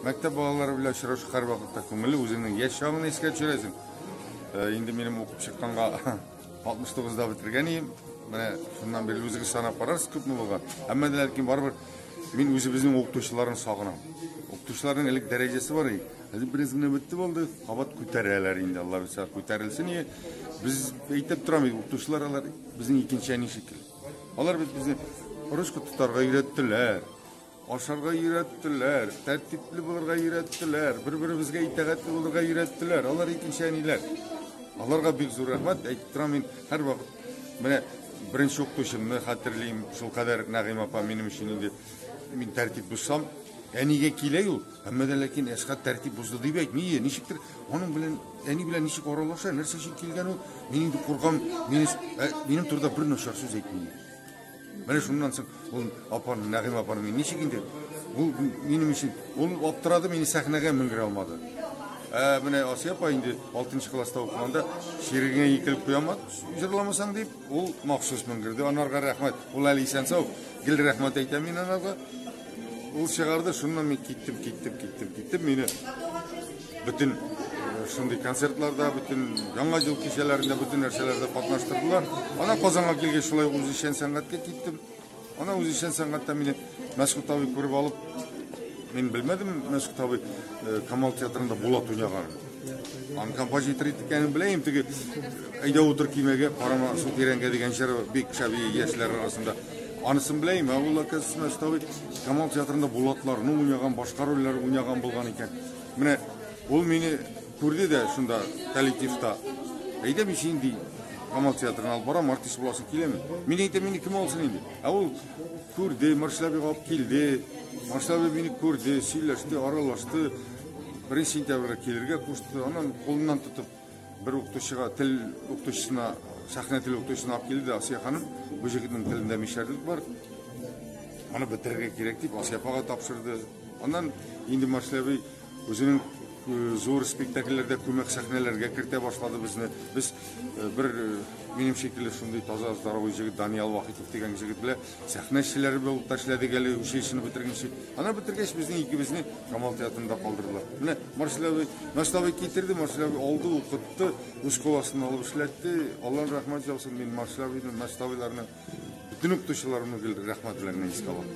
Мәктәп балалары белән очрашу һәрвакытта күңелле, үзеңнең яшь чагыңны искә төшерәсең. Э, инде минем укып чыкканга 69 да бетергән идем. Менә шуннан бирле үзегез санап карарсыз күпме булган. Әмма дә ләкин барыбер мин үзебезнең укытучыларны сагынам. Укытучыларның элек дәрәҗәсе бар иде. Хәзер бераз генә бетте булды, кабат күтәрәләр инде. Алла бирсә күтәрелсен. Без әйтеп торам, укытучылар алар безнең икенче әни шикелле. Алар бит безне русча тотарга өйрәттеләр. Ашарга өйрәттеләр, тәртипле булырга өйрәттеләр, бер-беребезгә итәгатьле булырга өйрәттеләр. Алар икенче әниләр. Аларга бик зур рәхмәт. Әйтеп торам мин һәрвакыт менә беренче укытучымны хәтерлим. Шул кадәр Нәгыйм апа минем өчен инде мин тәртип бозсам, әнигә килә ул. Әмма дә ләкин Әсхат тәртип бозды дип әйтми. Е, Ничектер аның белән әни белән ничек аралаша, нәрсә өчен килгән ул? Мин инде куркам, минем минем турыда бер начар сүз әйтми. Менә шуннан соң ул апаны, Нәгыйм апаны мин ничек инде? Ул минем өчен ул аптырады, мине сәхнәгә менгерә алмады. Ә менә Асия апа инде 6 класста укыганда ширегеңә икелеп куям, җырламасаң дип, ул махсус менгерде. Анарга рәхмәт. Ул әле исән сау. Гел рәхмәт әйтәм мин анарга. Ул чыгарды, шуннан мин киттем, киттем, киттем, киттем. Мине Бөтен э, шундый концертларда, бөтен яңа ел кичәләрендә, бөтен нәрсәләрдә катнаштырдылар. Ана Казанга килгәч, шулай үзешчән сәнгатькә киттем. Ана үзешчән сәнгатьтә мине Мәсхүт абый күреп алып, мин белмәдем, Мәсхүт абый э, Камал театрында Булат уйнаганын. Ан композитор икәнен беләм, теге әйдә утыр кимәгә, карама су тирәнгә дигән җыр бик шәби яшьләр арасында. Анысын беләм, ә ул оказывается, Мәсхүт абый Камал театрында Булатларны уйнаган, башка рольләр уйнаган булган икән. Менә ул мине күрде дә шунда коллективта. Әйдә мин син ди. Камал театрына алып барам, артист буласың киләме? Мин әйтә мине кем алсын инде? Ә ул күрде, Марселябе алып килде. Марселябе мине күрде, сөйләште, аралашты. Беренче сентябрьгә килергә кушты. Анан кулыннан тотып Бер укытучыга, тел укытучысына, сәхнә тел укытучысына алып килде дә Асия ханым, бу җегетнең телендә мишәрлек бар. Аны бетерергә кирәк дип Асия апага тапшырды. Аннан инде Маршләби үзенең э, зур спектакльләрдә күмәк сәхнәләргә кертә башлады безне. Без э, бер э, минем шикелле шундый таза здоровый җегет Даниял Вахитов дигән җегет белән Сәхнә эшчеләре булып та эшләдек әле училищены бетергәнче. Аны бетергәч, безнең икебезне Камал театрында калдырдылар. Менә Марсель абый, Марсель абый китерде, Марсель абый алды, укытты, үз кул астына алып эшләтте. Аллаһ рәхмәт яусын, мин Марсель абыйны, Марсель абыйларны, бөтен укытучыларымны гел рәхмәт белән генә искә алам.